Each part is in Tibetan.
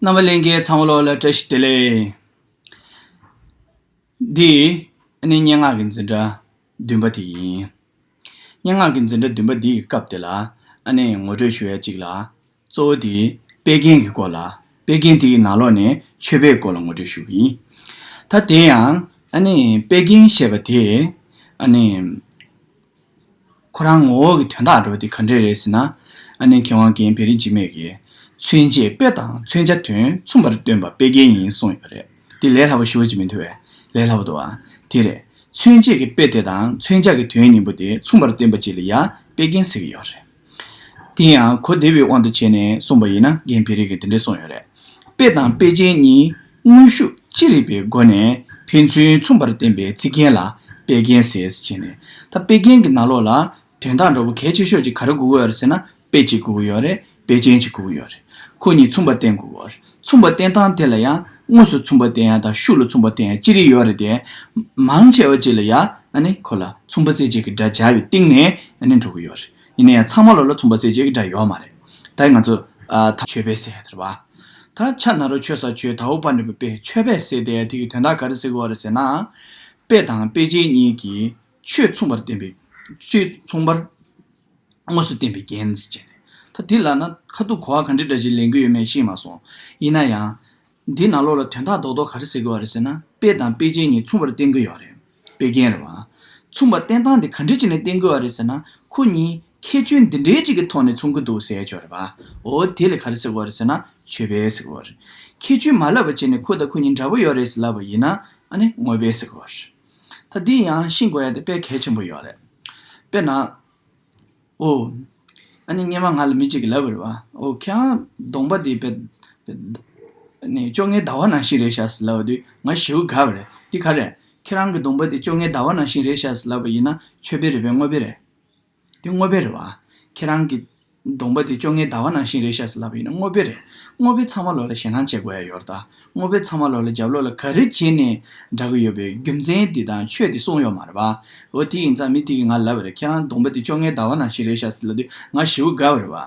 རྣམ་པར་གླིང་གའི་ཚངས་བློ་ལ་བཀྲ་ཤིས་བདེ་ལེགས། འདི་ནི་སྙན་ངག་གི་འཛིན་གྲྭ་བདུན་པ་དེ་ཡིན། སྙན་ངག་གི་འཛིན་གྲྭ་བདུན་པ་འདི་ཡི་སྐབས་དེ་ལ་ཨ་ནེས་ངོ་སྤྲོད་ཞུ་ཡ་གཅིག་ལ། གཙོ་བོ་དེ་དཔེ་རྒན་གྱི་སྐོར་ལ་དཔེ་རྒན་དེ་ཡི་ནང་ལོགས་ནས་ཆོས་དཔེའི་སྐོར་ལ་ངོ་སྤྲོད་ཞུ་གི་ཡིན། ད་དེ་ཡང་ཨ་ནེས་དཔེ་རྒན་ཞེས་པ་དེས་ཨ་ནེ། ཁོ་རང་ངོ་བོ་གི་དོན་དག་འགྲོ་བ་དེ་ག་འདྲས་རེད་ཟེར་ན། ཨ་ནེ་མཁས་དབང་རྒན་བེ་རི་འཇིགས་མེད་ཀྱིས། མཚོན་བྱེད་དཔེ་དང་མཚོན་བྱ་དོན་མཚུངས་པར་སྟོན་པ་དཔེ་རྒན་ཡིན་གསུངས་ཡོད་པ་རེད། དེ་ལས་སླ་པོ་ཞུ་བ་ཅིག་མི་འདུག་བས། ལས་སླ་བོ་འདུག་ཨང། དེ་རེད། མཚོན་བྱེད་ཀྱི་དཔེ་དེ་དང་མཚོན་བྱ་གི་དོན་གཉིས་པོ་དེ་མཚུངས་པར་སྟོན་པ་ཅིག་ལ་ཡང་དཔེ་རྒན་ཟེར་གྱི་ཡོད་རེད། དེ་ཡང་གོ་བདེ་བའི་དབང་དུ་བྱས་ནས་གསུངས་པ་ཡིན་ན་རྒན་བེ་རི་གིས་དེ་འདྲའི་གསུངས་ཡོད་རེད། དཔེ་དང་དཔེ་ཅན་གཉིས་དངོས་ཤུགས་ཅི་རིགས་པའི་སྒོ་ནས་ཕན་ཚུན་མཚུངས་པར་བསྟན་པའི་ཚིག་རྒྱན་ལ་དཔེ་རྒྱན་ཟེར་ཅེས་ནས། ད་དཔེ་རྒྱན་གྱི་ནང་ལོགས་ལ་དོན་དག་འདྲ་བོ་གལ་ཆེ་ཤོས་ཅིག་ག་རེ་དགོས་ཀྱི་ཡོད་རེད་ཟེར་ན་དཔེ་ཅིག་དགོས་ཀྱི་ཡོད་རེད་དཔེ་ཅན་ཅིག་དགོས་ཀྱི་ཡོད་རེད། ཁོ་གཉིས་མཚུངས་པར་བསྟན་དགོས་ཀྱི་ཡོད་རེད། མཚུངས་པ་བསྟན་སྟངས་དེ་ལ་ཡང་དངོས་སུ་མཚུངས་པ་བསྟན་ཡང་དང་ཤུགས་ལ་མཚུངས་པ་བསྟན་ཡང་ཅི་རིགས་ཡོད་རེད་དེ། མང་ཆེ་བ་ཅིག་ལ་ཡང་གོ་ལ་མཚུངས་པ་གསལ་བྱེད་ཀྱི་སྒྲ་སྦྱར་བའི་སྟེང་ནས་འགྲོ་གི་ཡོད་རེད། ཡིན་ན་ཡང་ཚང་མ་ལོགས་ལ་མཚུངས་པ་གསལ་བྱེད་ཀྱི་སྒྲ་ཡོད་མ་རེད། ད་ང་ཚོ་ད། ཆོས་པས་སེ་དེར་བ། ད་ཆ་ནཱ་རོ་ཆོས་ས་ཆོས་དྭོགས་པ་འདྲེན་པོ་པས་ཆོས་པས་སེ་དེ་དེ་གི་དོན་དག་ག་རེ་སེ་གོ་རེ་ཟེར་ན། དཔེ་དང་དཔེ་ཅན་གཉིས་ཀྱིས་ཆོས་མཚུངས་པར་བསྟན་པའི། ཆོས་མཚུངས་པར། དངོས་སུ་བསྟན་པའི་རྒྱན་བཅས་ནས། ད་འདི་ལ་ན་ཁ་ཐུག་གོ་བ་ག་འདྲི་འདྲ་བྱེད་ལེན་གི་ཡོད་མེད་ཤེས་མ་སོང། ཡིན་ན་ཡང། འདི་ནང་ལོགས་ལ་དོན་དག་རྡོག་རྡོག་ག་རེ་ཟེར་གི་ཡོད་རེད་ཟེར་ན་དཔེ་དང་དཔེ་ཅན་གཉིས་མཚུངས་པར་བསྟན་གི་ཡོད་རེད། དཔེ་རྒྱན་རེད་བ། མཚུངས་པར་བསྟན་སྟངས་འདི་ག་འདྲི་བྱེད་ནས་བསྟན་གི་ཡོད་རེད་ཟེར་ན་ཁོ་གཉིས་ཁྱད་ཆོས་འདི་འདྲའི་གཅིག་གི་ཐོག་ནས་མཚུངས་གི་འདུག་ཟེར་ཆོག་རེད་བ། འོ་དེ་ལས་ག་རེ་ཟེར་གི་ཡོད་རེད་ཟེར་ན་ཆོས་པས་ཟེར་གི་ཡོད་རེད། ཁྱད་ཆོས་མ་ལབ་པ་བྱས་ནས་ཁོ་དང་ཁོ་གཉིས་འདྲ་པོ་ཡོད་རེད་ཟེར་ལབ་པ་ཡིན་ན་ཨ་ནི་དངོས་པས་ཟེར་གི་ཡོད་རེད། ད་འདི་ཡང་ཤིང་བརྐོ་ཡ་དེ་དཔེ་གལ་ཆེན་པོ་ཡོད་རེད། དཔེར་ན། ཨོའོ། ཨ་ནི་སྙེ་མ་ང་ལ་མི་གཅིག་གིས་ལབ་བར་བ་ཨོ་ཁྱེད་རང་གདོང་པ་དེ་བེད། ནི་བཅོ་ལྔའི་ཟླ་བ་ནང་བཞིན་རེད་བྱ་ཟེར་ལབ་བ་དུས་ང་ཞེའུ་དགའ་བ་རེད་འདི་ག་རེད། ཁྱེད་རང་གི་གདོང་པ་དེ་བཅོ་ལྔའི་ཟླ་བ་ནང་བཞིན་རེད་བྱ་ཟེར་ལབ་བ་ཡིན་ན་ཆོས་དཔེ་རེད་བས་དངོས་དཔེ་རེད། འདི་དངོས་པོའི་རེད་བ། ཁྱེད་རང་གི། གདོང་པ་དེ་བཅོ་ལྔའི་ཟླ་བ་ནང་བཞིན་རེད་ཤག་སེ་ལབ་ཡིན་ན་དངོས་པོའི་རེད། དངོས་པོའི་ཚང་མ་ལོ་ལ་ཞེད་སྣང་བྱེད་དགོས་ཡ་ཡོར་ད། དངོས་པོའི་ཚང་མ་ལོ་ལ་རྒྱབ་ལོག་ལ་ག་རེ་བྱེད་ནས་འདྲ་གི་ཡོད་པའི་རྒྱུ་མཚན་དེ་དང་ཆོས་དེ་གསུངས་ཡོག་མ་རེད་བ། འོ་དེ་ཡིན་ཙང་མི་དེ་གི་ང་ལབ་པ་རེད་ཁྱེད་རང་གདོང་པ་དེ་བཅོ་ལྔའི་ཟླ་བ་ནང་བཞིན་རེད་ཤག་སེ་ལབ་དུས་ང་བཞི་བོ་དགའ་བ་རེད་བ།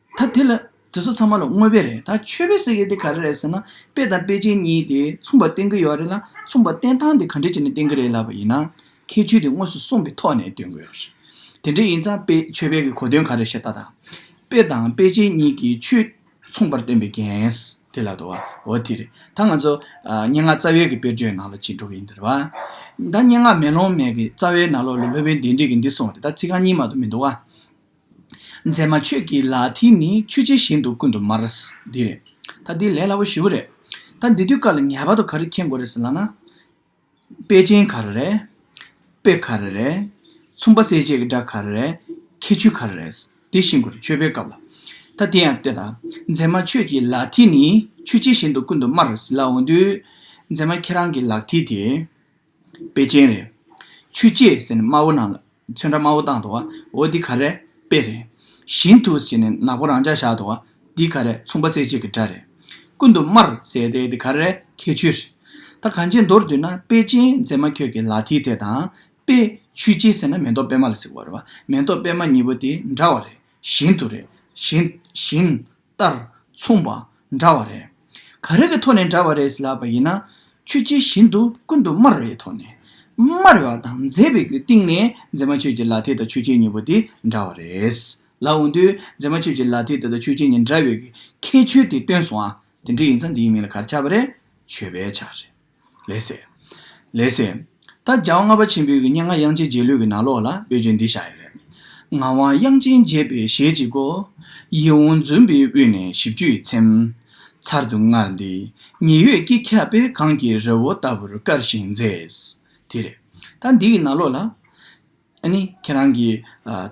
ད་དེ་ལ་དེ་ཚོ་ཚང་མ་ལ་དངོས་དཔེ་རེད་ད་ཆོས་དཔེ་ཟེར་མཁན་དེ་ག་རེ་རེད་ཟེར་ན་དཔེ་དང་དཔེ་ཅན་གཉིས་དེ་མཚུངས་པ་བསྟན་གྱི་ཡོད་རེད་ལ་མཚུངས་པ་བསྟན་སྟངས་དེ་ག་འདྲས་བྱས་ནས་བསྟན་གྱི་རེད་ལབ་པ་ཡིན་ན་ཁྱད་ཆོས་དེ་དངོས་སུ་གསུངས་པའི་ཐོག་ནས་སྟོན་དགོས་རེད། དེ་འདྲས་ཡིན་ཙང་དཔེ་ཆོས་དཔེ་གྱི་གོ་དོན་ག་རེ་ཞེ་ད་ད། དཔེ་དང་དཔེ་ཅན་གཉིས་ཀྱི་ཆོས་མཚུངས་པར་བསྟན་པའི་འགན་དེ་ལ་དོ་འོ་དེ་རེད་ད་ང་ཚོ་སྙན་ངག་རྩ་བའི་གི་དཔེར་བརྗོད་ནང་ལ་ཇི་འགྲོ་གི་ཡིན་འདིར་བ་ད་སྙན་ངག་མེ་ལོང་མེད་གི་རྩ་བའི་ནང་ལོག་ལ་ལྷོད་བོན་བདེན་བྲིས་གི་འདི་སོང་རེད་ད་ཚིག་རྐང་གཉིས་མ་གཏོགས་མི་འདུག་བ། མཛེས་མ་ཁྱོད་ཀྱི་ལག་མཐིལ་ནི་ཆུ་ཆེན་བཞིན་དུ་ཀུན་ཏུ་དམར། འདི་རེད། ད་འདི་ལས་སླ་བོ་ཞུ་གི་རེད། ད་འདི་དུས་བཀག་ལ་ངེས་པར་དུ་ག་རེ་མཁྱེན་དགོས་རེད་ཟེར་ལགས་ན། དཔེ་ཅན་ག་རེ་རེད། དཔེ་ག་རེ་རེད། ཚོང་པ་གསལ་བྱེད་ཀྱི་སྒྲ་ག་རེ་རེད། ཁྱད་ཆོས་ག་རེ་རེད། དེ་ཤེས་དགོས་རེད་ཆོས་པའི་སྐབས་ལ། ད་དེ་ཡང་བལྟས་དང། མཛེས་མ་ཁྱོད་ཀྱི་ལག་མཐིལ་ནི་ཆུ་ཆེན་བཞིན་དུ་ཀུན་ཏུ་དམར། ཟེར་ལགས་འོན་ཏུ། མཛེས་མ་ཁྱེད་རང་གི་ལག་མཐིལ་དེ། དཔེ་ཅན་རེད། ཆུ་སྐྱེས་ཟེར་ནས་དམར་བོ་ནང་ལ་ཚོན་ཁྲ་དམར་བོ་བཏང་འདུག་འོ་འདི་ག་རེད། དཔེ་རེད། བཞིན་དུ་ཟེར་ནས་ནག་པོ་རང་འཇགས་བཞག་འདུག་འདི་ག་རེད་མཚུངས་པ་གསལ་བྱེད་ཀྱི་སྒྲ་རེད། ཀུན་ཏུ་དམར་ཟེར་ཏེ་འདི་ག་རེད་ཁྱད་ཆོས་རེད། ད་གངས་ཅན་མདོར་བསྡུས་ན་དཔེ་ཅན་མཛེས་མ་ཁྱོད་ཀྱི་ལག་མཐིལ་དེ་དང་དཔེ་ཆུ་སྐྱེས་ཟེར་ན་མེ་ཏོག་པད་མ་ལ་ཟེར་བ་རེད། མེ་ཏོག་པད་མ་གཉིས་པོ་དེ་འདྲ་བ་རེད་བཞིན་དུ་རེད། བཞིན། ལྟར་མཚུངས་པ་འདྲ་བ་རེད། ག་རེ་གི་ཐོག་ནས་འདྲ་བ་རེད་ལབ་པ་ཡིན་ན། ཆོས་ཅི་བཞིན་དུ་ཀུན་ཏུ་སྨྲ་རེ་བའི་ཐོག་ནས། སྨྲ་རེ་བ་དང་མཛད་པའི་སྟེང་ནས་མཛེས་མ་ཆོས་ཀྱི་ལ་དེ་དང་ཆོས་ཅན་གཉིས་པོ་དེ་འདྲ་བ་རེད་ལབ་འོན་དུས་མཛེས་མ་ཆོས་ཀྱི་ལ་དེ་དེ་དང་ཆོས་ཅན་གཉིས་འདྲ་བའི་ཁྱད་ཆོས་དེ་སྟོན་སོང་ཨ། དེ་འདྲ་ཡིན་ཚ་འདི་ཡི་མིང་ལ་ག་རེ་བྱ་བ་རེད། ཆོས་པའི་ཆ་རེད། ལེགས་སེ། ལེགས་སེ། ད་རྒྱལ་དབང་ལྔ་པ་ཆེན་པོའི་སྙན་ངག་དབྱངས་ཅན་རྗེས་ལུས་ཀྱི་ནང་ལོགས་ལ་འབོད་རྒྱུ་འདི་ཤ་ཡི་རེད། ངག་དབང་དབྱངས་ཅན་རྒྱས་པའི་ཞལ་གྱི་སྒོ། ཡིད་འོང་འཛུམ་པའི་དབུས་ནས་བཞི་བཅུ་ཡི་ཚེམས། ཚར་དུ་དངར་འདི་ཉི་འོད་ཀྱིས་ཁ་དཔེར་གངས་ཀྱི་རི་བོ་ལྟ་བུར་དཀར་ཞིང་མཛེས། དེ་རེད། ད་འདི་ཡི་ནང་ལོགས་ལ། ཨ་ནི་ཁྱེད་རང་གི།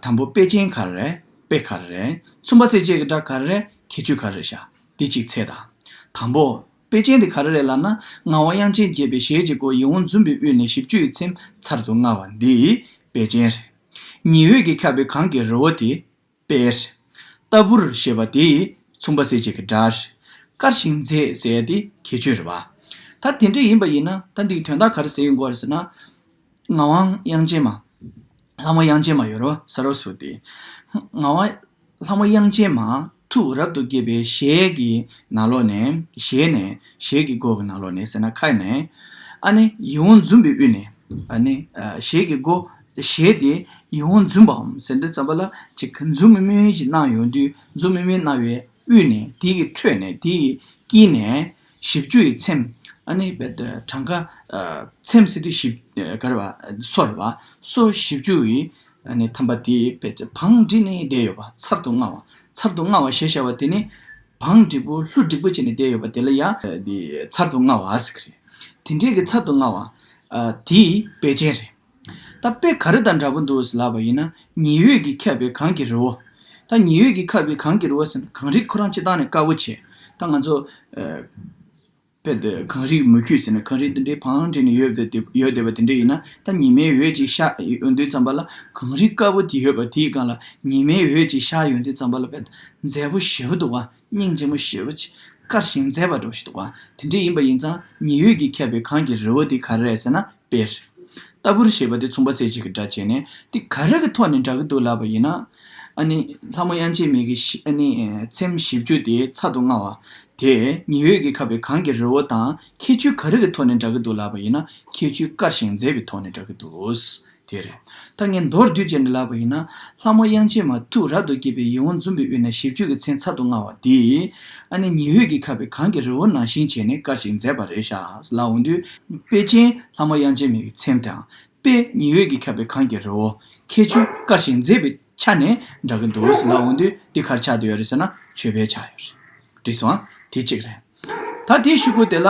དང་པོ་དཔེ་ཅན་ག་རེ་རེད་དཔེ་ག་རེ་རེད། གསུམ་པ་སེ་བཅད་ཀྱི་སྒྲ་ག་རེ་རེད་ཁྱད་ཆོས་ག་རེ་རེད་ཤག་འདི་གཅིག་ཚད་དང། དང་པོ། དཔེ་ཅན་དེ་ག་རེ་རེད་ལབ་ན་ངག་དབང་དབྱངས་ཅན་དགྱེས་པའི་ཞལ་གྱི་སྒོ་ཡིད་འོང་འཛུམ་པའི་དབུས་ནས་བཞི་བཅུ་ཡི་ཚེམས་ཚར་དུ་དངར་བ་འདི། དཔེ་ཅན་རེད། ཉི་འོད་ཀྱིས་ཁྱབ་པའི་གངས་ཀྱི་རི་བོ་དེ། པའི། ལྟ་བུར་ཞེས་པ་དེས་མཚུངས་པ་བསྲེས་བཅད་ཀྱི་སྒྲར། དཀར་ཞིང་མཛེས་ཟེར་ཡ་དེ་ཁྱད་ཆོས་རེད་བ། ད་དེ་འདྲ་ཡིན་པ་ཡིན་ན་ད་འདིའི་དོན་དག་ག་རེ་ཟེར་ཡོད་འགོ་ཟེར་ན། ངག་དབང་དབྱངས་ཅན་མ། ལྷ་མོ་དབྱངས་ཅན་མ་ཡོད་རོ་ཟ་རོ་ཟུར་ཏེ། ངག་དབང། ལྷ་མོ་དབྱངས་ཅན་མ། ཐུགས་རབ་ཏུ་དགྱེས་པའི་ཞལ་གྱི་ནག་ལོགས་ནས། ཞལ་ནས། ཞལ་གྱི་སྒོ་གི་ནག་ལོགས་ནས་ཟེར་ན་ཁ་ནས། ཨ་ནི། ཡིད་འོང་འཛུམ་པའི་དབུས་ནས། ཨ་ནི། ཞལ་གྱི་སྒོ། ཞེས་ཏེ་ཡིད་འོང་འཛུམ་པའམ་ཟེར་འདྲེ་ཙམ་པ་ལ་ཅིག་འཛུམ་དམུལ་དམུལ་གྱི་སྣང་ཡོང་དུས་འཛུམ་དམུལ་དམུལ་སྣང་བའི་དབུས་ནས་དེ་ཡི་ཁྲོད་ནས་དེ་ཡི་དཀྱིལ་ནས་བཞི་བཅུ་ཡི་ཚེམས། གྲངས་ཀ། ཚེམས་ཟེར་དུས་བཞི། ག་རེ་བ། སོ་རེ་བ། སོ་བཞི་བཅུ་ཡི། ཐམ་པ་དེ། བང་འགྲིག་ནས་བསྡད་ཡོད་པ་ཚར་དུ་དངར་བ། ཚར་དུ་དངར་བ་ཞེས་བྱ་བ་དེ་ནི། བང་འགྲིག་པོ་ལྷུ་འགྲིག་པོ་བྱས་ནས་བསྡད་ཡོད་པ་དེ་ལ་ཡང། ཚར་དུ་དངར་བ་ཟེར་གྱི་རེད། དེ་འདྲའི་གི་ཚར་དུ་དངར་བ། དེའི་དཔེ་ཅན་རེད། ད་དཔེ་ག་རེ་དང་འདྲ་པོ་འདུག་ལབ་པ་ཡིན་ན་ཉི་འོད་ཀྱིས་ཁྱབ་པའི་གངས་ཀྱི་རི་བོ། ད་ཉི་འོད་ཀྱིས་ཁབ་པའི་གངས་ཀྱི་རི་བོ་ཟེར་ན་གངས་རིས་ཁོ་རང་སྤྱི་བཏང་ནས་དཀར་བོ་བྱས། ད་ང་ཚོ། དཔེ་དེ་གངས་རིས་མུ་ཁྱུད་ཟེར་ནས་གངས་རིས་འདི་འདྲའི་བང་བྲིས་ནས་ཡོད་བསྡད་པ་དེ་འདྲ་ཡིན་ན་ད་ཉི་མའི་འོད་ཅིག་ཤར་ཡོང་དུས་ཙམ་པ་ལ་གངས་རིས་དཀར་བོ་དེ་ཡོད་པ་དེའི་སྒང་ལ་ཉི་མའི་འོད་ཅིག་ཤར་ཡོང་དུས་ཙམ་པ་ལ་བལ་མཛེས་པོ་བཞི་བོ་འདུག་བ་སྙིང་རྗེ་མོ་ཞེས་པ་དཀར་ཞིང་མཛེས་པ་འགྲོ་ཞིག་འདུག་ག་དེ་འདྲ་ཡིན་པ་ཡིན་ཙང་ཉི་འོད་ཀྱིས་ཁྱབ་པའི་གངས་ཀྱི་རི་བོ་དེ་ག་རེ་རེད་ཟེར་ན་དཔེ་རེད། ལྟ་བུར་ཞེས་པ་དེ་ཚོང་པ་ཟས་བཅད་ཀྱི་སྒྲ་བྱས་ནས་དེ་ག་རེ་གི་ཐོག་ནས་འདྲ་གི་འདུག་ལབ་པ་ཡིན་ན། ཨ་ནི། ལྷ་མོ་དབྱངས་ཅན་མིག་གི་ཨ་ནི། ཚེམས་བཞི་བཅུ་དེ་ཚ་དུ་མངའ་བ། དེས་ཉི་འོད་ཀྱིས་ཁ་བའི་གངས་ཀྱི་རི་བོ་དང་ཁྱད་ཆོས་ག་རེ་གི་ཐོག་ནས་འདྲ་གི་འདུག་ལབ་པ་ཡིན་ན་ཁྱད་ཆོས་དཀར་ཞིང་མཛེས་པའི་ཐོག་ནས་འདྲ་གི་འདུག་དེ་རེད། ད་ངས་མདོར་བསྡུས་ཅན་གྱི་ལབ་པ་ཡིན་ན། ལྷ་མོ་དབྱངས་ཅན་མ་ཐུགས་རབ་ཏུ་དགྱེས་པའི་ཡིད་འོང་འཛུམ་པའི་དབུས་ན་ཞིབ་འཇུག་གི་མཚན་ཚར་དུ་དངར་བ་འདི། ཨ་ནེ་ཉི་འོད་ཀྱིས་ཁ་བའི་གངས་ཀྱི་རི་བོ་ནང་བཞིན་བྱས་ནས་དཀར་ཞིང་མཛེས་པ་རེ་ཤཱས་ལ་འོང་དུས། དཔེ་ཅན། ལྷ་མོ་དབྱངས་ཅན་མའི་མཚན་དང། དཔེ། ཉི་འོད་ཀྱིས་ཁ་བའི་གངས་ཀྱི་རི་བོ། ཁྱད་ཆོས། དཀར་ཞིང་མཛེས་པའི་ཆ་ནས་འདྲ་གི་འདུག་ལ་འོང་དུས་འདི་གར་ཆགས་འདི་ཡོད་རེད་ཟེར་ན་ཆོས་པས་ཆགས་ཡོད་རེད། བྲིས་སོང། དེ་གཅིག་རེད། ད་དེའི་ཤུལ་སྐོར་དེ་ལ།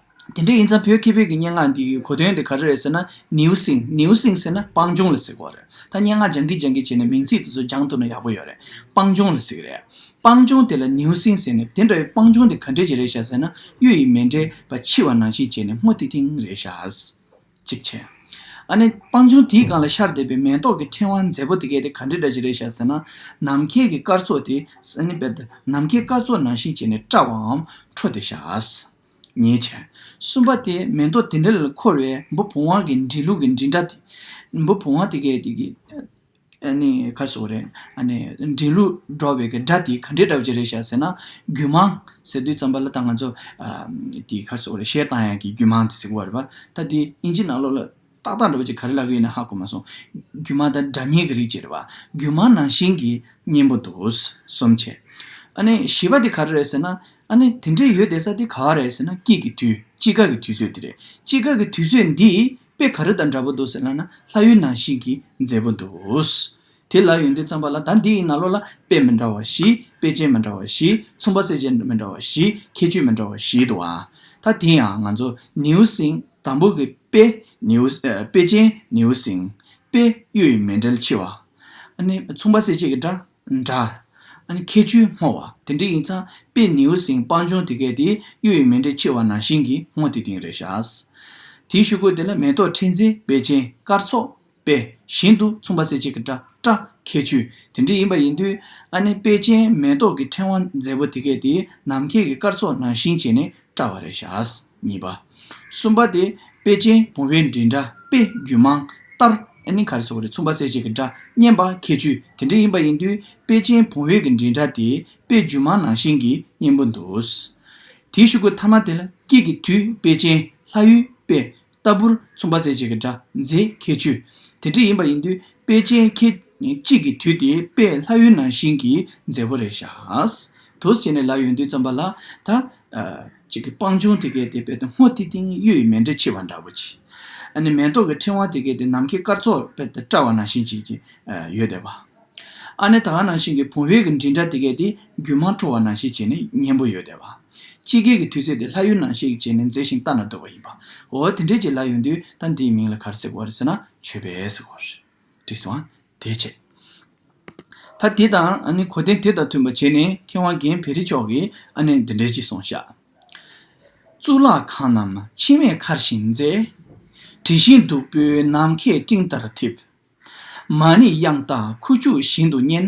དེ་འདྲ་ཡིན་ཙང་བོད་ཁེ་བོད་ཀྱི་སྙན་ངག་འདི་ཡི་གོ་དོན་དེ་ག་རེ་རེད་ཟེར་ན་ནེའུ་སིང་ནེའུ་སིང་ཟེར་ན་སྤང་ལྗོངས་ལ་ཟེར་གོ་རེད་ད་སྙན་ངག་སྦྱང་གི་སྦྱང་གི་བྱས་ནས་མིང་ཚིག་དེ་ཚོ་སྦྱང་ཐུབ་ན་ཡག་པོ་ཡོད་རེད་སྤང་ལྗོངས་ལ་ཟེར་གི་རེད་སྤང་ལྗོངས་དེ་ལ་ནེའུ་སིང་ཟེར་ནས་དེ་འདྲ་བའི་སྤང་ལྗོངས་དེ་ག་འདྲས་ཀྱི་རེད་བྱ་ཟེར་ན་གཡུ་ཡི་མེ་འདྲས་པ་འཕྱི་བ་ནང་བཞིན་བྱས་ནས་སྔོ་ཐིང་ཐིང་རེད་བྱ། ཅིག་བྱས། ཨ་ནི་སྤང་ལྗོངས་དེའི་སྒང་ལ་ཤར་འདེབས་པའི་མེ་ཏོག་གི་ཕྲེང་བ་མཛེས་པོ་དེ་གས་དེ་ག་འདྲས་འདྲ་ཅིག་རེད་བྱ་ཟེར་ན་ནམ་མཁའི་གི་སྐར་ཚོགས་དེ་ནམ་མཁའི་སྐར་ཚོགས་ནང་བཞིན་བྱས་ནས་བཀྲ་བའམ་འཕྲོ་དེ་བྱ། ཉེས་བྱས། གསུམ་པ་སྟེ་མེ་ཏོག་དེ་འདྲ་ལ་འཁོར་བའི་འབུ་བུང་བ་གི་འབྲི་ལུགས་ཀྱི་འབྲི་འདྲ་སྟེ། འབུ་བུང་བ་དེ་གའི་དེ་གའི། ནི་ཁ་སོགས་རེད། ནི། འབྲི་ལུགས་འགྲོ་བའི་གི་སྒྲ་དེ་ག་འདྲའི་སྒྲ་བརྗོད་རེད་བྱ་ཟེར་ན། རྒྱུད་མངས། ཟེར་དུས་རྩམ་པ་ལ་ད་ང་ཚོ། དེ་ཁ་སོགས་རེད་བཤད་སྟངས་ཡག་གི་རྒྱུད་མངས་དེ་ཟེར་གོ་རེད་པ། ད་དེ་ཨིན་ཇི་ནང་ལོགས་ལ། ཏག་ཏག་འགྲོ་བ་ཅིག་ག་རེ་ལབ་ཡོད་ན་ཧ་གོ་མ་སོང། རྒྱུ་མ་དང་སྒྲ་སྙན་གྱི་རིགས་ཅིག་རེད་བ། རྒྱུ་མ་ནང་བཞིན་གྱི་སྙན་པོ་འདུག་གསུམ་བྱས། ཨ་ནི་བཞི་བ་དེ་ག་རེ་རེད་ཟེར་ན། ཨ་ནི་དེ་འདྲས་ཡོད་དེ་ས་དེ་ག་བ་རེད་ཟེར་ན་སྐྱིད་ཀྱི་དུས་དཔྱིད་དཀར་གྱི་དུས་ཚོད་དེ་རེད། དཔྱིད་དཀར་གྱི་དུས་ཚོད་འདིས་དཔེ་ག་རེ་དང་འདྲ་པོ་འདུག་ཟེར་ན་ན་ལྷ་ཡུལ་ནང་བཞིན་གྱི་མཛེས་པོ་འདུག། དེ་ལ་ཡོན་ཏན་བརྩམས་པ་ལ་ད་འདི་ཡི་ན་ལོ་ལ་དཔེ་མི་འདྲ་བ་བཞི་དཔེ་ཅན་མི་འདྲ་བ་བཞི་མཚུངས་པ་གསལ་བྱེད་མི་འདྲ་བ་བཞི་ཁྱད་ཆོས་མི་འདྲ་བ་བཞིའི་དུ་བ། ད་དེ་ཡང་ང་ཚོ་ནེའུ་སིང་དང་པོ་གི་དཔེ་ནེའུ་དཔེ་ཅན་ནེའུ་སིང་དཔེ་གཡུ་ཡི་མེ་འབྲེལ་འཆི་བ། མཚུངས་པ་གསལ་བྱེད་ཀྱི་འདྲ། ཁྱད་ཆོས་སྔོ་བ་དེ་འདྲ་ཡིན་ཙང་དཔེ་ནེའུ་སིང་སྤང་ལྗོངས་དེ་གའི་དེ་གཡུ་ཡི་མེ་འབྲེལ་འཆི་བ་ནང་བཞིན་གྱི་སྔོ་དེ་དེང་རེ་བཞག། དེའི་ཤུལ་སྐོར་དེ་ལ་མེ་ཏོག་ཕྲེང་འཛིན་དཔེ་ཅན་སྐར་ཚོགས། པས་བཞིན་དུ་མཚུངས་པ་གསལ་བྱེད་ཀྱི་སྒྲ་བཀྲ། ཁྱད་ཆོས་དེ་འདྲའི་ཡིན་པ་ཡིན་དུས་ཨ་ནེ་དཔལ་ཆེན་མེ་ཏོག་གི་ཕྲེང་བ་མཛེས་པོ་དེ་གས་དེ་ནམ་མཁས་ཀྱི་སྐར་ཚོགས་ནང་བཞིན་བྱས་ནས་བཀྲ་བ་རེད་ཤག་གཉིས་པ། གསུམ་པ་དེ་དཔལ་ཆེན་བུང་བའི་མགྲིན་འདྲ་དཔེ་རྒྱུད་མང་ལྟར་ཨ་ནེ་ག་རེ་སོགས་རེད་མཚུངས་པ་གསལ་བྱེད་ཀྱི་སྒྲ་སྙན་པ་ཁྱད་ཆོས་དེ་འདྲའི་ཡིན་པ་ཡིན་དུས་དཔལ་ཆེན་བུང་བའི་གི་མགྲིན་འདྲ་དེ་དཔེ་རྒྱུད་མང་ནང་བཞིན་གྱི་སྙན་པོ་འདུག་དེའི་ཤུགས་ཀྱིས་མཐའ་མ་དེ་ལ་སྐྱིད་ཀྱི་དུས་དཔལ་ཆེན་ལྷ་ཡུལ་པས་ལྟ་བུར་མཚུངས་པ་གསལ་བྱེད་ཀྱི་སྒྲ་མཛེས་ཁྱད་ཆོས་དེ་འདྲ་ཡིན་པ་ཡིན་དུས་དཔེ་ཅན་ཁྱེད་ཅིག་གིས་དུས་དེའི་དཔེ་ལྷ་ཡུལ་ནང་བཞིན་གྱི་མཛེས་པོ་རེ་བཞག་དུས་བྱས་ནས་ལ་ཡོན་དུས་བརྩམས་པ་ལ་ད་ཅིག་གི་སྤང་ལྗོངས་དེ་གའི་དེ་དཔེ་དང་སྔོ་ཐིག་ཐིག་གཡུ་ཡི་མེ་འདྲ་འཁྱིལ་བ་འདྲ་བོ་ཅི། ཨ་ནི་མེ་ཏོག་གི་ཕྲེང་བ་དེ་གའི་དེ་ནམ་མཁའི་སྐར་ཚོགས་དཔེ་ལྟར་བཀྲ་བ་ནང་བཞིན་གྱིས་ཡོད་བསྡད་པ། ཨ་ནེ་དག་ནང་བཞིན་གྱི་བུང་བས་གི་འདྲིས་འདྲ་དེ་གས་དེ་རྒྱུད་མང་འཕྲོ་བ་ནང་བཞིན་བྱས་ནས་སྙན་པོ་ཡོད་བསྡད་པ། དཔྱིད་ཀའི་གི་དུས་ཚེས་དེ་ལྷ་ཡུལ་ནང་བཞིན་གྱི་བྱས་ནས་མཛེས་ཤིང་ལྟ་ན་སྡུག་པ་ཡིན་པ། འོ་དེ་འདྲའི་གྱི་ལྷ་ཡོད་དུས་ད་འདིའི་མིང་ལ་གར་ཟེར་བར་ཟེར་ན་ཆོས་པས་གོ། དྲིས་སོང་ཨ་དེས་བྱས། ད་དེ་དང་ཨ་ནེ་གོ་དན་དེ་དང་མཐུན་པ་བྱས་ནས་མཁས་དབང་རྒན་བེ་རི་མཆོག་གིས་ཨ་ནེ་འདི་འདྲའི་གྱི་སོང་ཤག། གཙུག་ལག་ཁང་ནམ་འཆི་མེད་མཁར་བཞིན་མཛེས། དྲི་ཞིམ་བདུག་སྤོས་ནམ་མཁའི་སྤྲིན་ལྟར་འཐིབ། མ་ནི་དབྱངས་རྟ་ཁུ་བྱུག་བཞིན་དུ་སྙན།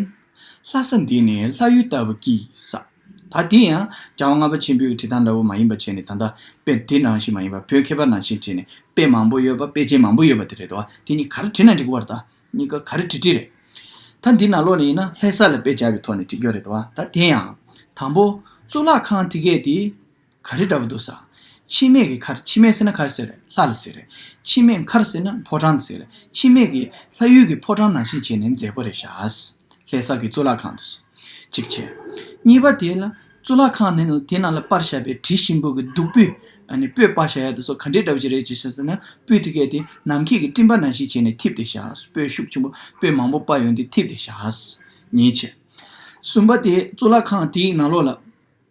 ལྷ་ས་འདི་ནི་ལྷ་ཡུལ་ལྟ་བུ་ཀིས། ད་དེ་ཡང་བྱ་བ་ལྔ་པ་ཆེན་པོའི་བྲིས་ཐང་འདྲ་བོ་མ་ཡིན་པ་བྱས་ནས་ད་ལྟ་དཔེ་དེ་ནང་བཞིན་མ་ཡིན་པར་བོད་མཁས་པ་ནང་བཞིན་བྲིས་ནས་དཔེ་མང་པོ་ཡོད་པ་དཔེ་ཆའི་མང་པོ་ཡོད་པ་དེ་རེད་དོ་དེ་གཉིས་ག་རེ་བྲིས་ན་འགྲིག་གོ་བར་ད་གཉིས་ཀ་ག་རེ་བྲིས་བྲིས་རེད། ད་འདི་ནང་ལོགས་ནས་ཡིན་ན་ལྷས་ས་ལ་དཔེ་བྱ་བའི་ཐོག་ནས་བྲིས་རྒྱུ་རེད་དོ་ད་དེ་ཡང་དང་པོ་གཙུག་ལག་ཁང་དེ་གས་དེ། ག་རེ་འདྲ་བོ་འདུག་ས། འཆི་མེད་ཀྱི་མཁར་འཆི་མེད་ཟེར་ན་མཁར་ཟེར་རེད་ལྷ་ལ་ཟེར་རེད། འཆི་མེད་མཁར་ཟེར་ན་ཕོ་བྲང་ཟེར་རེད་འཆི་མེད་ཀྱི་ལྷ་ཡུལ་གྱི་ཕོ་བྲང་ནང་བཞིན་བྱས་ནས་མཛེས་པོ་རེ་བཞག་ཨཱ། ལྷས་བསགས་ཀྱི་གཙུག་ལག་ཁང་དུ། གཅིག་བྱས། གཉིས་པ་དེ་ལ་གཙུག་ལག་ཁང་ནི་དེ་ནང་ལ་དཔར་ཞབས་པའི་དྲི་ཞིམ་པོ་གི་བདུག་སྤོས། སྤོས་དཔར་བཞག་ཡག་འདུག་ས་ག་འདྲའི་འདྲ་བོ་ཅིག་རེད་ཅེས་བཤད་ཟེར་ན་སྤོས་དེ་གས་ཏེ་ནམ་མཁས་ཀྱི་སྤྲིན་པ་ནང་བཞིན་བྱས་ནས་འཐིབས་ཏེ་བཞག་སྤོས་ཤུགས་ཆེན་པོ་སྤོས་མང་པོ་དཔར་ཡོང་དུས་འཐིབས་ཏེ་བཞག་ཨཱ། གཉིས་བྱས། གསུམ་པ་དེ་གཙུག་ལག་ཁང་དེའི་ནང་ལོགས་ལ།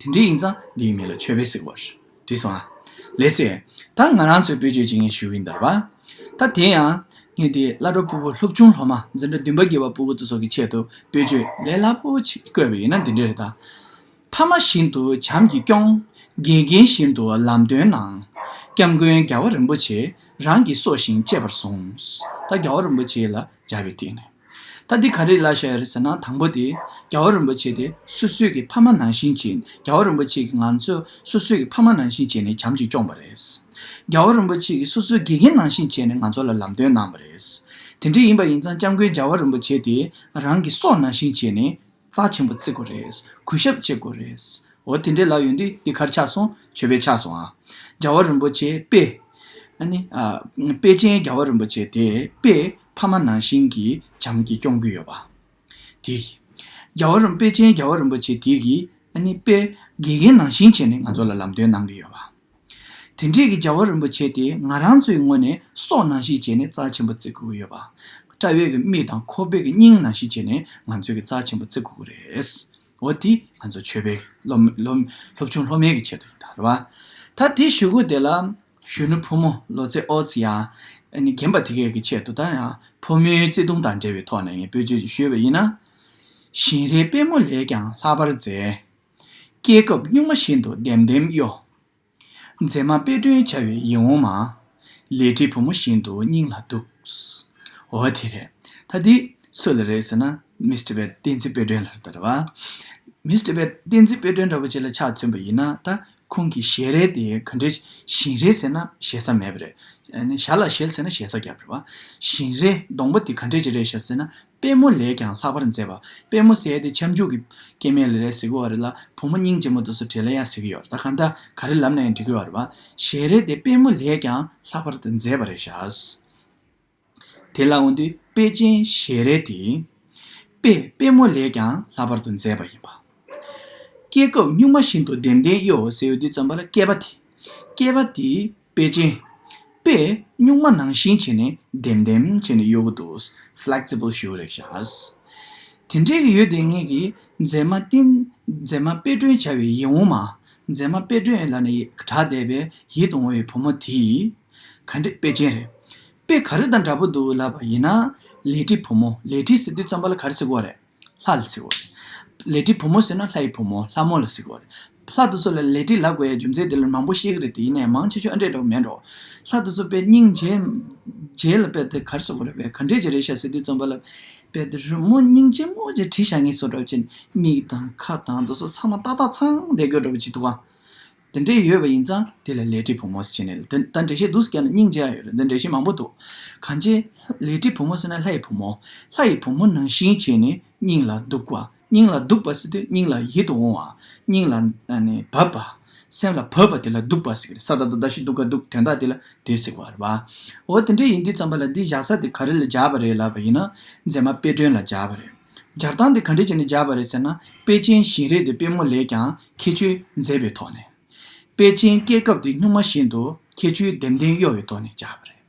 དེ་འདྲའི་ཡིག་ཚང་འདི་ཡི་མིང་ལ་ཆོས་དཔེ་ཟེར་བར་བྲིས་སོང་ཨ། ལེ་སེ། ད་ང་རང་ཚོའི་བོད་ཆོས་བྱེད་མཁན་ཞུ་ཡིན་འདོད་པ། ད་དེ་ཡང། ངེད་དེའི་བླ་སྒྲོ་སྤུ་བོ་ལྷོ་བྱུང་ལྷོ་མ་འཛིན་གྲྭ་བདུན་པ་དགེ་བ་སྤུ་བོ་ཏོ་སོགས་ཀྱི་ཆེད་དུ་བོད་ཆོས་ལས་སླ་པོ་ཆེ་བཀོད་པ་ཡིན་ན་འདི་འདྲའི་རེ་ད། ཕ་མ་བཞིན་དུ་བྱམས་ཀྱིས་སྐྱོང། དགེ་རྒན་བཞིན་དུ་ལམ་སྟོན་གནང། སྐྱབས་མགོན་རྒྱ་བ་རིན་པོ་ཆེ་རང་གིས་སྲོག་བཞིན་གཅེས་པར་བཟུང། ད་རྒྱ་བ་རིན་པོ་ཆེ་ལ་སྦྱར་བའི་སྟེང་ནས། ད་འདི་ག་རེ་གླ་བཞག་ཡོད་རེད་ཟེར་ན་དང་པོ་དེ་རྒྱལ་བ་རིན་པོ་ཆེ་དེ་སོ་སོས་ཀྱི་ཕ་མ་ནང་བཞིན་བྱས་རྒྱལ་བ་རིན་པོ་ཆེ་གི་ང་ཚོས་སོ་སོས་ཀྱི་ཕ་མ་ནང་བཞིན་བྱས་ནས་བྱམས་ཀྱིས་སྐྱོང་པ་རེད། རྒྱལ་བ་རིན་པོ་ཆེ་གི་སོ་སོའི་དགེ་རྒན་ནང་བཞིན་བྱས་ནས་ང་ཚོ་ལ་ལམ་སྟོན་གནང་བ་རེད། དེ་འདྲ་ཡིན་པ་ཡིན་ཙང་སྐྱབས་མགོན་རྒྱལ་བ་རིན་པོ་ཆེ་དེ་རང་གི་སྲོག་ནང་བཞིན་བྱས་ནས། རྩ་ཆེན་པོ་བརྩི་དགོས་རེད། གུས་ཞབས་བྱེད་དགོས་རེད། འོ་དེ་འདྲའི་ལབ་ཡོང་དུས་འདི་གར་ཆགས་སོང་བྱོས་པས་ཆགས་སོང་ཨ། རྒྱལ་བ་རིན་པོ་ཆེ་དཔེ། ཨ་ནི། དཔེ་ཅན་རྒྱལ་བ་རིན་པོ་ཆེ་དེས་དཔེ། ཕ་མ་ནང་བཞིན་གྱི་བྱམས་ཀྱིས་སྐྱོང་གི་ཡོད་པ། དེ། རྒྱལ་བ་རིན། དཔེ་ཅན་རྒྱལ་བ་རིན་པོ་ཆེ་དེ་གིས། ཨ་ནི། དཔེ། དགེ་རྒན་ནང་བཞིན་བྱས་ནས་ང་ཚོ་ལ་ལམ་སྟོན་གནང་གི་ཡོད་པ། དེ་འབྲེལ་གྱི་རྒྱལ་བ་རིན་པོ་ཆེ་དེས་ང་རང་ཚོའི་ངོས་ནས་སྲོག་ནང་བཞིན་བྱས་ནས་རྩ་ཆེན་པོ་བརྩི་དགོས་ཀྱི་ཡོད་པ། བཀྲ་བྷེ་གི་མིག་དང་ཁོ་བོད་ཀྱི་སྙིང་ནང་བཞིན་བྱས་ནས་ང་ཚོའི་གི་རྩ་ཆེན་པོ་བརྩི་དགོས་ཀྱི་རེད། འོ་དེ་ང་ཚོ་ཆོས་པའི་སློབ་ཆུང་སློབ་མའི་གི་ཆེད་དུ་ཡིན་ད་རེད་བ། ད་དེ་ཞུ་གུ་དེ་ལ་གཞོན་ནུ་ཕོ་མོ་ལོ་ཙེ་ཨོ་ཙི་ཡང་རྒན་པ་དེ་གའི་གི་ཆེད་དུ་ད་ཡང་ཕོ་མོའི་བརྩེ་དུང་དང་འབྲེལ་བའི་ཐོག་ནས་ངས་བོད་ཆོས་ཞུས་པ་ཡིན་ན། བཞིན་རས་དཔལ་མོ་ལས་ཀྱང་ལྷག་པར་མཛེས། སྐྱེས་སྐབས་སྨྱུག་མ་བཞིན་དུ་ལྡེམ་ལྡེམ་གཡོ། མཛེས་མ་དཔེ་སྐྲུན་བྱ་བའི་ཡིད་འོང་མ། ལས་བྲེལ་བུ་མོ་བཞིན་དུ་སྙིང་ལ་སྡུག། འོ་དེ་རེད། ད་འདི་སུ་ལ་རེད་ཟེར་ན་མིས་ཏི་བེད་བསྟན་འཛིན་དཔེ་སྐྲུན་ལ་རེད། མིས་ཏི་བེད་བསྟན་འཛིན་དཔེ་སྐྲུན་འདྲ་པོ་ཅིག་ལ་ཕྱག་ཚོན་པ་ཡིན་ན་ད་ཁོང་གི་ཞལ་རས་དེ་ག་འདྲའི་ཞིང་རས་ཟེར་ན་ཞེ་ས་མེད་པ་རེད། ཞར་ལ་ཞལ་ཟེར་ན་ཞེ་ས་རྒྱབ་རེད་བ། ཞིང་རས་སྡོང་པོ་དེ་ག་འདྲའི་ཀྱི་རས་ཤ་ཟེར་ན་དཔལ་མོ་ལས་ཀྱང་ལྷག་པར་མཛེས་པ། དཔལ་མོ་གསལ་ཏེ་ཁྱབ་འཇུག་གི། སྐྱེ་མེད་ལི་རལ་ཟེ་གོ་བ་རི་ལ། བུ་མོ་སྙིང་རྗེ་མོ་དུ་སུ་བྲེ་ལ་ཡ་ཟེ་གི་ཡོར་ད་ག་འདའ་ག་རི་ལམ་ལ་ཡང་འདྲི་གི་ཡོར་བ། ཞེས་རེ་སྟེ་དཔལ་མོ་ལས་ཀྱང་ལྷག་པར་དུ་མཛེས་པ་རེ་བྱ། དེ་ལ་འོན་དུ་དཔལ་ཅན་ཞེས་རེ་སྟེ། དཔེ་དཔལ་མོ་ལས་ཀྱང་ལྷག་པར་དུ་མཛེས་པ་ཡིན་པ། སྐྱེས་སྐབས་སྨྱུག་མ་བཞིན་དུ་ལྡེམ་ལྡེམ་གཡོ་ཟེའུ་དུས་ཙམ་པ་ལ་སྐྱེས་པ་དེ། སྐྱེས་པ་དེ། པེ་ཅིན། པས་སྨྱུག་མ་ནང་བཞིན་བྱས་ནས་ལྡེམ་ལྡེམ་བྱས་ནས་གཡོ་གུ་འདུག Flexible ཞུ་རེག་ཤཱས། དེ་འདྲའི་གི་ཡོད་དེ་ངེད་ཀྱིས་མཛེས་མ་བསྟེན། མཛེས་མ་དཔེ་སྐྲུན་བྱ་བའི་ཡིད་འོང་མ། མཛེས་མ་དཔེ་སྐྲུན་ལ་ནི་གྲགས་བསྡད་པའི་ཡིད་དུ་འོང་བའི་བུ་མོ་དེས། ག་འདྲི་པེ་ཅིན་རེད། པས་ག་རི་དང་འདྲ་པོ་འདུག་ལབ་པ་ཡིན་ན། ལེ་ཀྲི་བུ་མོ་ལེ་ཀྲི་ཟེར་དུས་རྩམ་པ་ལ་ག་རི་ཟེར་དགོས་རེད། ལྷ་ལ་ཟེར་བ་རེད། ལས་བྲིས་བུ་མོ་ཟེར་ན་ལྷའི་བུ་མོ་ལྷ་མོ་ལ་ཟེར་བ་རེད། ལྷ་དེ་ཚོ་ལ་ལས་བྲིས་ལགས་པའི་རྒྱུ་མཚན་དེ་ལོ་མང་པོ་ཤེས་ཀྱི་རེད་དེ་ཡིན་ནའི་མང་ཆེ་ཆུང་ཨ་འདྲས་འདྲ་བོ་མེད་འགྲོ། ལྷ་དེ་ཚོ་དཔེ་རྙིང་རྗེས་རྗེས་ལ་དཔེ་དེ་གར་ཟེར་བ་རེད་བས་ག་འདྲས་ཀྱི་རེད་ཤ་ཟེར་དུས་རྩོམ་པ་ལ་དཔེ་དེ་རི་མོ་རྙིང་རྗེ་སྔོ་རྗེ་བྲིས་བཞག་ངེས་སོ་འདྲ་བོ་བྱས་ནས་མིག་དང་ཁ་དང་དེ་ཚོ་ཚང་མ་ཏག་ཏག་ཚང་བསྡད་དགོས་འདྲ་བོ་བྱེད་འདུག་ཨ། འདི་འདྲས་ཡོད་པ་ཡིན་ཙང་དེ་ལ་ལས་བྲིས་བུ་མོ་ཟེར་ནས་ད་འདྲེ་བཤད་འདུག་ཟེར་ཀྱང་ན་སྙིང་རྗེ་ཡང་ཡོད་རེད་འདི་འདྲེ་བཤད་མང་པོ་འདུག་གང་ཅིའི། ལས་བྲིས་བུ་མོ་ཟེར་ན་ལྷ་ཡི་བུ་མོ། ལྷ་ཡི་བུ་མོ་ནང་བཞིན་བྱས་ནས་སྙིང་ལ་སྡུག་བ། སྙིང་ལ་སྡུག་པ་ཟེར་དུས་སྙིང་ལ་ཡིད་དུ་འོང་བ། སྙིང་ལ། བབས་པ། སེམས་ལ་བབས་པ་དེ་ལ་སྡུག་པ་ཟེར་གི་རེད་ས་དག་དུ་དག་ཤི་དུག་དགའ་དུག་དོན་དག་དེ་ལ་དེ་ཟེར་བར་བ། འོ་དེ་འདྲས་ཡིན་དུས་ཙམ་པ་ལ་འདི་བཞག་ས་དེ་ག་རེ་ལ་བཞག་པ་རེད་ལབ་པ་ཡིན་ན་མཛེས་མ་དཔེ་སྒྲོན་ལ་བཞག་པ་རེད། སྦྱར་སྟངས་དེ་ག་འདྲས་བྱས་ནས་སྦྱར་བ་རེད་ཟེར་ན་དཔེ་ཅན་བཞིན་རེད་དེ་དཔེ་མོ་ལས་ཀྱང་ཁྱད་ཆོས་མཛེས་པའི་ཐོག་ནས། དཔེ་ཅན་སྐྱེས་སྐབས་དེ་སྨྱུག་མ་བཞིན་དུ་ཁྱད་ཆོས་ལྡེམ་ལྡེམ་གཡོ་བའི་ཐོག་ནས་སྦྱར་བ་རེད།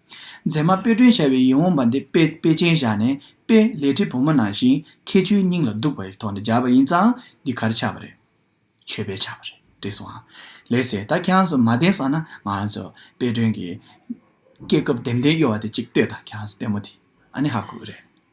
མཛེས་མ་དཔེ་སྒྲོན་ཤར་བའི་ཡིད་འོང་བ་འདི་དཔེ་དཔེ་ཅན་བཞག་ནས་དཔེ་ལས་བྲིས་བུ་མོ་ནང་བཞིན་ཁྱད་ཆོས་སྙིང་ལ་སྡུག་པའི་ཐོག་ནས་སྦྱར་བ་ཡིན་ཙང་འདི་གར་ཆགས་པ་རེད། ཆོས་པས་ཆགས་པ་རེད་བྲིས་སོང། ལེགས་སེ་ད་ཁྱེད་རང་ཚོས་མ་བདེན་བསམ་ན་ང་རང་ཚོས་དཔེ་སྒྲོན་གྱི་སྐྱེས་སྐབས་ལྡེམ་ལྡེམ་གཡོ་བ་དེ་ཅིག་ལྟོས་དང་ཁྱེད་རང་ཚོས་ལྟད་མོ་དེ་ཨ་ནི་ཧ་གོ་གི་རེད།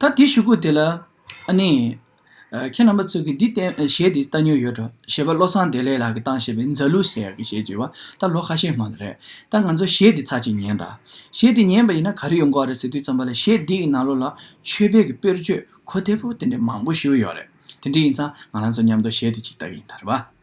ད་དེ་ཞུ་གོ་དེ་ལ། ཨ་ནི། ཁྱེད་རྣམ་པ་ཚོས་ཀྱིས་འདི་བསྟན་བཞེད་འདི་ལྟ་ཉོས་ཡོད་དྲོ། ཞེས་པ་བློ་བཟང་བདེ་ལེགས་ལགས་ཀྱིས་བཏང་བཞེད་པའི་མཛའ་གླུ་ཟེར་ཡག་གི་ཞེས་བགྱི་བ་ད་ལོ་ཁ་ཤས་མ་ལ་རེད། ད་ང་ཚོ་བཞེད་འདི་ཚར་གཅིག་ཉན་ད། བཞེད་འདི་ཉན་པ་ཡིན་ན་ག་རེ་ཡོང་གོ་ཨ་རེ་ཟེར་དུས་ཙམ་པ་ལ་བཞེད་འདི་ཡི་ནང་ལོ་ལ་ཆོས་དཔལ་གྱི་དཔེར་བརྗོད་གོ་དེ་པོ་དེ་འདྲའི་མང་པོ་ཞུ་ཡོད་རེད། དེ་འདྲའི་ཡིན་ཙང་ང་རང་ཚོ་མཉམ་དུ་བཞེད་འདི་གཅིག་ལྟ་གི་ཡིན་ད་རེད་བ།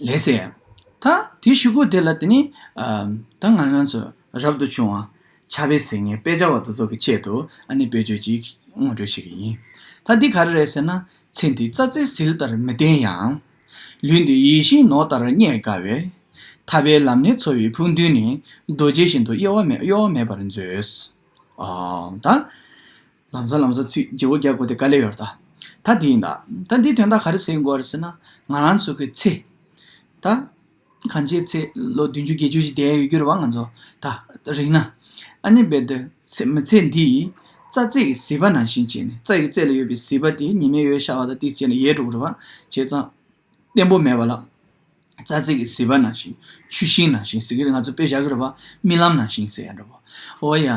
ལེ་སེ། ད་དེ་ཞུ་གོ་དེ་ལ་དེ་ནི། ད་ང་ང་ཚོ་རབ་ཏུ་བྱུང། བྱ་བའི་ཟེར་ངའི་དཔེ་ཆ་བ་དེ་ཚོ་གི་ཆེད་དུ་ཨ་ནི་བེད་སྤྱོད་ཅིག་སྔོན་འགྲོས་བྱེད་ཀྱི་ཡིན། ད་འདི་ག་རེ་རེད་ཟེར་ན། ཚེ་འདི་རྩ་རྩེ་ཟིལ་ལྟར་མི་བརྟན་ཡང། ལུས་འདི་ཡིད་བཞིན་ནོར་ལྟར་རྙེད་དཀའ་བས། ཐར་པའི་ལམ་སྣེ་འཚོལ་བའི་ཕུགས་འདུན་ནི་རྡོ་རྗེ་བཞིན་དུ་གཡོ་བ་མེད་པར་མཛོད། ད། ལམ་བཟའ་ལམ་བཟའ་ཚུལ་བརྗེ་བོ་རྒྱག་དགོས་དེ་ག་ལས་ཡོད་ད། ད་དེ་ཡིན་ད། ད་འདིའི་དོན་དག་ག་རེ་ཟེར་དགོས་རེད་ཟེར་ན། ང་རང་ཚོ་གི་ཚེ། ད། གང་ཅིའི་ཚེ་ལོ་བདུན་ཅུ་བརྒྱད་ཅུ་ཞིག་བསྡད་ཡོད་རྒྱུ་རེད་བ་ང་ཚོ་ད། རིང་ན། ཨ་ནེ་བེ་དི། མི་ཚེ་འདི་ཡི། རྩ་རྩེ་གི་ཟིལ་པ་ནང་བཞིན་བྱས་ནས་རྩ་ཡི་རྩེ་ལ་ཡོད་པའི་ཟིལ་པ་དེ་ཉི་མའི་ཡོལ་ཤར་བ་དང་དེ་བཅད་ནས་ཡལ་འགྲོ་གི་རེད་བ། བྱས་ཙང། བརྟན་པོ་མེད་པ་ལ། རྩ་རྩེ་གི་ཟིལ་པ་ནང་བཞིན་ཆུ་ཤིང་ནང་བཞིན་ཟེར་གི་རེད་ང་ཚོ་དཔེ་བཞག་གི་རེད་པ་རྨི་ལམ་ནང་བཞིན་ཟེར་ཡ་འདྲ་བོ། འོ་ཡ།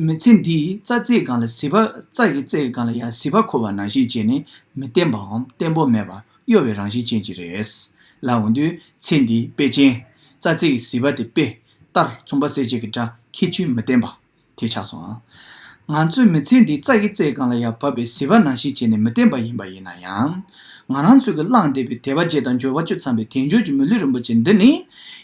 མི་ཚེ་འདིའི་རྩ་རྩེའི་སྒང་ལ་ཟིལ་པ་རྩ་ཡི་རྩེ་ཡི་སྒང་ལ་ཡང་ཟིལ་པ་འཁོར་བ་ནང་བཞིན་བྱས་ནས་མི་བརྟན་པའམ་བརྟན་པོ་མེད་པ་གཡོ་བའི་རང་བཞིན་ཅན་གྱི་རེད། ལ་འོན་དུས་ཚེ་འདིའི་དཔེ་ཅན། རྩ་རྩེ་གི་ཟིལ་པ་དེ་དཔེ། ལྟར་མཚུངས་པ་གསལ་བྱེད་ཀྱི་སྒྲ་ཁྱི་ཆུའི་མི་བརྟན་པ། དེ་ཆགས་སོང། ང་ཚོའི་མི་ཚེ་འདི་རྩ་ཡི་རྩེ་གང་ལ་ཡང་བབས་པའི་ཟིལ་བ་ནང་བཞིན་བྱས་ནས་མི་བསྟན་པ་ཡིན་པ་ཡིན་ན་ཡང། ང་རང་ཚོས་ཀྱིས་བླངས་བསྡད་པའི་དད་པ་བརྗེད་དང་འབྱོར་བ་བཅོལ་འཚམས་པའི་དལ་འབྱོར་གྱི་མི་ལུས་རིན་པོ་ཆེ་འདི་ནི།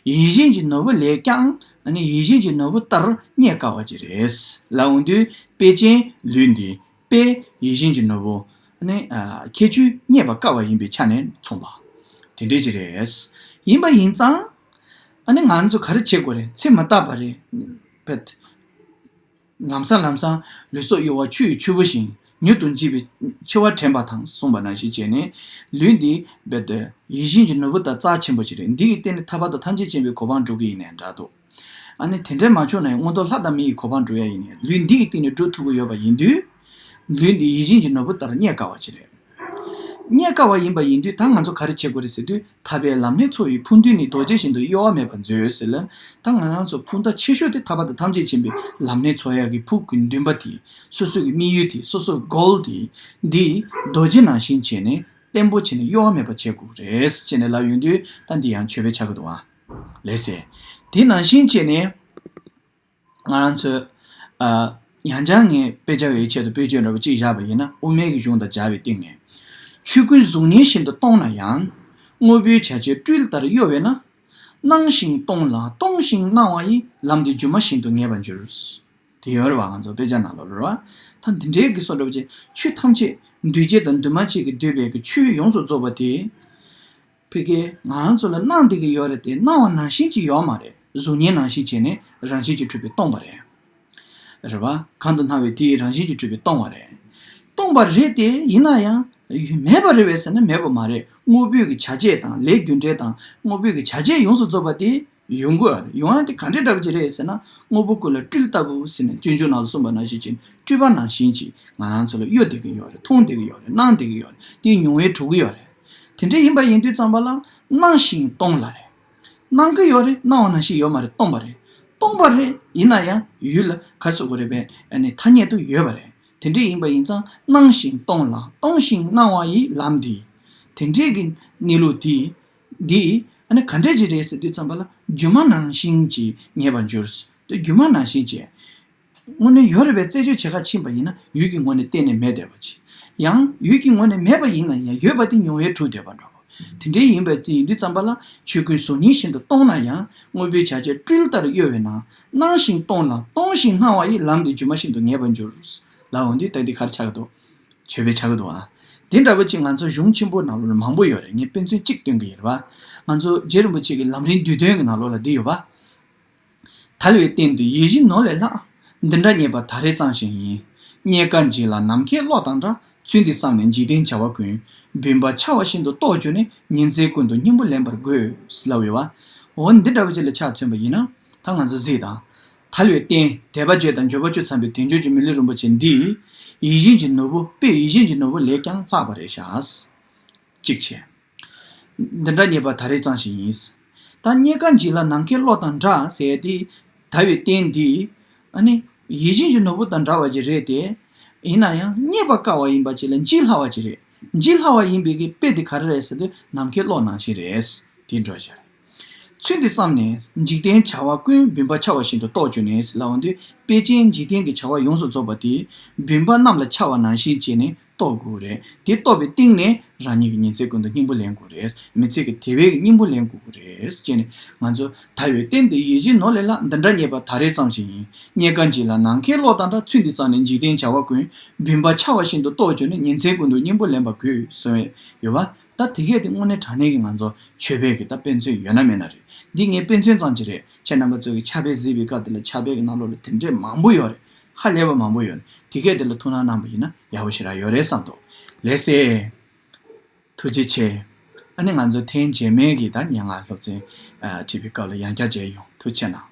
ཡིད་བཞིན་གྱི་ནོར་བུ་ལས་ཀྱང། ཡིད་བཞིན་གྱི་ནོར་བུ་ལྟར་རྙེད་དཀའ་བ་ཅིག་རེད། ལ་འོང་དུས་དཔེ་ཅན་ལུས་འདི། དཔེ། ཡིད་བཞིན་གྱི་ནོར་བུ། ཁྱད་ཆོས་རྙེད་པ་དཀའ་བ་ཡིན་པའི་ཆ་ནས་མཚུངས་པ། དེ་འདྲས་ཅིག་རེད། ཡིན་པ་ཡིན་ཙང། ང་ཚོས་ག་རེ་བྱེད་དགོས་རེད་ཚེ་མ་བརྟགས་པ་རེད། བེད། ལམ་སང་ལམ་སང་ལུས་སྲོག་གཡོ་བ་ཆུ་ཡི་ཆུ་བོ་བཞིན་མྱུར་དུ་འཇིག་པའི་འཆི་བ་དྲན་པ་དང་མཚུངས་པ་ན་ཞེས་བྱས་ནས། ལུས་འདི་བེད། ཡིད་བཞིན་གྱི་ནོར་བུ་དང་རྩ་ཆེན་པོ་ཅིག་རེད་འདི་ཡི་སྟེང་ནས་ཐར་པ་དང་ཐམས་ཅད་བྱིན་པའི་གོ་འཕང་འགྲོ་གི་ཡིན་ནས་འདྲ་འདུག་ཨ་ནི་དེ་འདྲས་མ་བྱུང་ན་ཡང་སྔོན་ཐོག་ལྷ་དང་མི་ཡི་གོ་འཕང་འགྲོ་ཡ་ཡིན་ནས་ལུས་འདི་ཡི་སྟེང་ནས་འགྲོ་ཐུབ་ཀྱི་ཡོད་པ་ཡིན་དུས། ལུས་འདི་ཡིད་བཞིན་གྱི་ནོར་བུ་ལྟར་རྙེད་དཀའ་བ་ཅིག་རེད། རྙེད་དཀའ་བ་ཡིན་པ་ཡིན་དུས་ད་ང་ཚོ་ག་རེ་བྱེད་དགོས་རེད་ཟེར་དུས་ཐར་པའི་ལམ་ནས་ཚོ་ཡི་ཕུགས་འདུན་ནི་རྡོ་རྗེ་བཞིན་དུ་གཡོ་བ་མེད་པར་མཛོད་ཟེར་ལན། ད་ང་རང་ཚོ་ཕུགས་མཐའ་ཆེ་ཤོས་དེ་ཐར་པ་དང་ཐམས་ཅད་མཁྱེན་པའི་ལམ་ནས་ཚོ་ཡག་གི་ཕུགས་ཀྱི་འདུན་པ་དེ་སོ་སོ་གི་དམིགས་ཡུལ་དེ་སོ་སོར་གོལ་ཏེ། འདི་རྡོ་རྗེ་ནང་བཞིན་བྱས་ནས་བརྟན་པོ་བྱས་ནས་གཡོ་བ་མེད་པར་བྱེད་དགོས་རེད་ཅེས་ནས་ལབ་ཡོང་དུས་ད་འདི་ཡང་ཆོས་པའི་ཆ་ག་དུ་བ་ལས་ཟེར། དེ་ནང་བཞིན་བྱས་ནས། ང་རང་ཚོས། ཡང་བསྐྱར་ངས་དཔེ་ཆ་བའི་ཆེད་དུ་བེད་སྤྱོད་འདྲ་པོ་གཅིག་བཞག་པ་ཡིན་ན་དབུ་མའི་གཞུང་དང་སྦྱར་བའི་སྟེང་ནས། ཆོས་ཀུན་གཟུགས་བརྙན་བཞིན་དུ་སྟོང་ན་ཡང། དངོས་པོའི་བྱ་བྱེད་སྤྲུལ་ལྟར་གཡོ་བས་ན། སྣང་ཞིང་སྟོང་ལ་སྟོང་ཞིང་སྣང་བ་ཡི་ལམ་དེ་སྒྱུ་མ་བཞིན་དུ་ངེས་པར་འགྱུར། དེ་ཡོད་རེད་བ་ང་ཚོ་དཔེ་ཆ་ནང་ལོ་ལོ་ར་ཐ་འདི་འདྲའི་གི་སོ་འདྲ་པོ་ཅན་ཆོས་ཐམས་ཅད་འདུས་བྱས་དང་འདུས་མ་བྱས་ཀྱི་འདོད་པའི་གི་ཆོས་ཡོངས་སུ་རྫོགས་པ་དེ། ཕི་གེ། ང་རང་ཚོ་ལ་སྣང་བདེ་གི་ཡོད་རེད་དེ་སྣང་བ་ནང་བཞིན་གྱི་ཡོད་མ་རེད་གཟུགས་བརྙན་ནང་བཞིན་བྱས་ནས་རང་བཞིན་གྱི་འཁྲུལ་པའི་སྟོང་པ་རེད། རེད་བ། གང་དུ་སྣང་བའི་དེ་ཡི་རང་བཞིན་གྱི་འཁྲུལ་པའི་སྟོང་བ་རེད། སྟོང་པ་རེད་དེ་ཡིན་ན་ཡང། མེད་པ་རེད་བས་ཟེར་ན་མེད་པ་མ་རེད་དངོས་པོའི་གི་བྱ་བྱེད་དང་ལས་རྒྱུ་འབྲས་དང་དངོས་པོའི་གི་བྱ་བྱེད་ཡོངས་སུ་རྫོབ་པ་དེ། ཡོང་གི་ཡོང་ཨ་དེ་ག་འདྲའི་གྲབས་ཀྱི་རེད་ཟེར་ན་དངོས་པོ་ཀུན་ལ་སྤྲུལ་ལྟ་བུ་ཟེར་ནས་སྤྱོད་འཇུག་ནང་ལ་སོང་པ་ན་ཤེས་ཀྱི་སྤྲུལ་པ་ནང་བཞིན་གྱིས་ང་རང་ཚོ་ལ་གཡོ་བསྡད་ཀྱི་ཡོད་རེད་མཐོང་བསྡད་ཀྱི་ཡོད་རེད་སྣང་བསྡད་ཀྱི་ཡོད་རེད་དེའི་མྱོང་བས་གྲུབ་ཀྱི་ཡོད་རེད་དེ་འདྲའི་ཡིན་པ་ཡིན་དུས་ཙམ་པ་ལ་སྣང་བཞིན་སྟོང་ལ་རེད་སྣང་གི་ཡོད་རེད་སྣང་བ་ན་ཤེས་ཡོད་མ་རེད་སྟོང་པ་རེད་སྟོང་པ་རེད་ཡིན་ན་ཡང་ཡུལ་ལ་ག་སོ་གོ་རེད་པས་ནི་ཐ་སྙད་དུ་ཡོད་པ་རེད་དེ་འདྲའི་ཡིན་པ་ཡིན་ཙང་སྣང་བཞིན་སྟོང་ལ་སྟོང་བཞིན་སྣང་བ་ཡི་ལམ་འདི་དེ་འདྲའི་གི་གནས་ལུགས་དེ་འདི་ཨ་ནི་ག་འདྲ་ཞིག་རེད་ཟེར་དུས་བརྩམས་པ་ལ་རྒྱུ་མ་ནང་བཞིན་གྱིས་ངེས་པར་འགྱུར། དེ་རྒྱུ་མ་ནང་བཞིན་གྱིས། དངོས་ནས་ཡོད་རེད་པས་རྩད་གཅོད་བྱེད་ཁ་ཕྱིན་པ་ཡིན་ན་ཡུལ་གྱི་ངོས་ནས་གཏན་ནས་མེད་བསྡད་པ་གྱིས། ཡང་ཡུལ་གྱི་ངོས་ནས་མེད་པ་ཡིན་ན་ཡང་ཡོད་པ་དེ་མྱོང་བས་གྲུབ་བསྡད་པ་འདྲ་བོ། དེ་འདྲའི་ཡིན་པའི་རྩིས་ཡིན་དུས་བརྩམས་པ་ལ་ཆོས་སྐུའི་གཟུགས་བརྙན་བཞིན་དུ་སྟོང་ན་ཡང་དངོས་པོའི་བྱ་བྱེད་སྤྲུལ་ལྟར་གཡོ་བས་ན་སྣང་ཞིང་སྟོང་ལ་སྟོང་ཞིང་སྣང་བ་ཡི་ལམ་དེ་རྒྱུ་མ་བཞིན་དུ་ངེས་པར་འགྱུར། ལ་འོན་དུས་དག་འདི་གར་ཆགས་འདུག། བྱོས་པའི་ཆ་ཡོད་དོ། དེ་འདྲ་བ་ཅིག་ང་ཚོ་གཞུང་ཆེན་པོ་ནང་ལོ་ལ་མང་པོ་ཡོད་རེད་ངས་དཔེ་མཚོན་གཅིག་སྟོན་གི་ཡེར་བ། ང་ཚོ་རྗེ་རིན་པོ་ཆེ་གི་ལམ་རིན་བསྡུས་དོན་གི་ནང་ལོ་ལ་འདི་ཡོད་པ། དལ་བའི་སྟེང་དུ་ཡིད་བཞིན་ནོར་ལས་ལྷག། འདི་འདྲ་རྙེད་པ་ད་རེས་གཙང་ཞིང་ཡིན། རྙེད་དཀའ་འཇིག་ལ་ནམ་མཁའི་གློག་དང་འདྲ། ཚུལ་འདི་བསམ་ནས་འཇིག་རྟེན་བྱ་བ་ཀུན། འབུན་པ་འཆའ་བ་བཞིན་དུ་རྟོགས་གྱུར་ནས་ཉིན་མཚན་ཀུན་ཏུ་སྙིང་པོ་ལེན་པར་དགོས། ལ་འོས་བ། འོ་འདི་འདྲ་བ་ཅིག་ལ་ཆ་མཚོན་པ་ཡིན་ན། ད་ང་ཚོ་གཟིགས་དང། ཐར་བའི་རྟེན་དད་པ་བརྗོད་དང་འབྱོར་པ་བཅུ་འཚམ་པའི་དལ་འབྱོར་གྱི་མི་ལུས་རིན་པོ་ཆེ་འདི། ཡིད་བཞིན་གྱི་ནོར་བུ་དཔེ་ཡིད་བཞིན་གྱི་ནོར་བུ་ལས་ཀྱང་ལྷག་པ་རེད་ཤག། ཅིག་ཆེ། འདི་འདྲ་རྙེད་པ་ད་རེས་གཙང་ཞིག་ཡིན། ད་རྙེད་ཀ་འཇིག་ལ་ནམ་མཁའི་གློག་དང་འདྲ་ཟེར་ཏེ། དར་བའི་རྟེན་འདི། ཨ་ནི། ཡིད་བཞིན་གྱི་ནོར་བུ་དང་འདྲ་བ་ཅིག་རེད་དེ། ཡིན་ན་ཡང་རྙེད་པ་དཀའ་བ་ཡིན་པ་ཅིག་ལ་འཇིག་སླ་བ་ཅིག་རེད། འཇིག་སླ་བ་ཡིན་པའི་དཔེ་དེ་ག་རེ་རེད་ཟེར་དུས་ནམ་མཁའི་གློག་ནང་བཞིན་རེད། དེ་འདྲ་ཞིག་རེད། ཚུལ་འདི་བསམས་ནས་འཇིག་རྟེན་བྱ་བ་ཀུན་སྦུན་པ་འཆའ་བ་བཞིན་དུ་རྟོག་བཅོས་ནས་ལའོ་འདུས་དཔལ་ཆེན་འཇིག་རྟེན་གྱི་བྱ་བ་ཡོངས་སུ་རྫོགས་པ་དེ་སྦུན་པ་རྣམས་ལ་འཆའ་བ་ནང་བཞིན་བྱས་ནས་རྟོག་དགོས་རེད་དེ་རྟོག་པའི་སྟེང་ནས་རང་ཉིད་ཀྱི་ཉིན་ཚེ་ཀུན་ཏུ་སྙིང་པོ་ལེན་དགོས་རེད་མི་ཚེ་གི་དེ་བས་སྙིང་པོ་ལེན་དགོས་རེད་ཅེས་ནས་ང་ཚོ་ད་ཡོད་གཏན་དེ་ཡིད་བཞིན་ནོར་ལས་ལ་འདི་འདྲ་རྙེད་པ་ད་རེས་ཙམ་ཞིག་ཡིན་རྙེད་ག་འཇིག་ལ་ནང་ཁའི་གློག་དང་འདྲ་ཚུལ་འདི་བསམས་ནས་འཇིག་རྟེན་བྱ་བ་ཀུན་སྦུན་པ་འཆའ་བ་བཞིན་དུ་རྟོག་བཅོས་ནས་ཉིན་ཚེ་ཀུན་ཏུ་སྙིང་པོ་ལེན་པ་དགོས་ཟེར་བའི་ཡོད་པ་ད་དེ་གས་དེ་དངོས་གནས་དྲང་གནས་ཀྱི་ང་ཚོ་ཆོས་བོད་ཀྱི་ད་དཔེ་མཚོན་ཡོད་ན་མེད་ན་རེད་འདི་ངའི་དཔེ་མཚོན་ཙམ་གྱི་རེད་ཁྱེད་རྣམ་པ་ཚོས་ཀྱི་ཕྱག་དཔེ་གཟིགས་པའི་སྐབས་དེ་ལ་ཕྱག་དཔེ་ཀྱི་རྣམ་རོག་ལ་དེ་འདྲས་མང་པོ་ཡོད་རེད་ཧ་ལས་པ་མང་པོ་ཡོད་དེ་གས་དེ་ལ་ཐུགས་སྣང་གནང་པ་ཡིན་ན་ཡག་པོ་ཞིག་རག་ཡོད་རེད་བསམ་འདུག་ལེགས་སེ། ཐུགས་རྗེ་ཆེ། ཨ་ནི་ང་ཚོ་ཐེངས་རྗེས་མའི་གི་ད་སྙན་ངག་སློབ་ཚན་བྲིས་པའི་སྐབས་ལ་ཡང་བསྐྱར་མཇལ་ཡོང་ཐུགས་ཆེ་གནང།